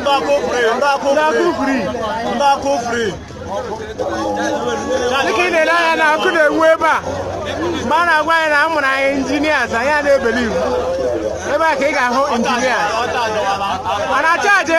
Ndaku free, ndaku free, ndaku free. Dịka ị na-ele anya na ọkụ na-enwu ebe a mgbe a na-agwa anyị na a mụrụ anyị engineers anyị a na-ebelieve ebe a ka ị ga-ahụ engineers a na-acha aje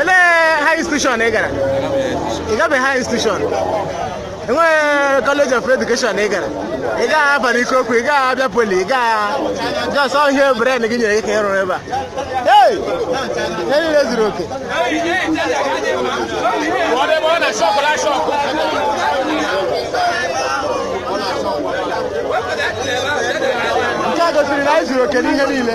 Elee high institution ị gara? Ị gabeghị high institution? Enweghị college of education ị gara? Ị gaghị Alvan Ikoku, ị gaghị Abia Poly, ị gaghị just ọ ihe brain gị nyere gị ka ị rụrụ ebe a. Hey! Ihe niile zuru oke. Nke a gosiri na anyị zuru oke n'ihe niile.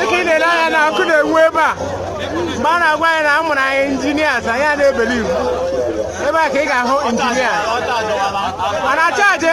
dịka ị na-ele anya na ọkụ na-enwu ebe a mgbe a na-agwa anyị na a mụrụ anyị engineers anyị a na-ebelieve ebe a ka ị ga-ahụ engineers a na-acha aje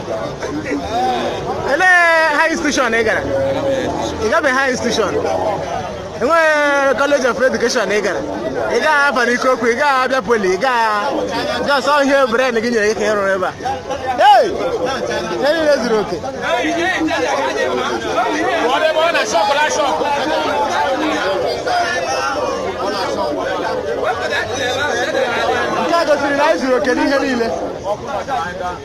Elee high institution ị gara? Ị gabeghị high institution? Enweghị college of education ị gara? Ị gaghị Alvan Ikoku, ị gaghị Abia Poly, ị gaghị just ọ ihe brain gị nyere gị ka ị rụrụ ebe a. Hey! Ihe niile zuru oke. Nke a gosiri na anyị zuru oke n'ihe niile.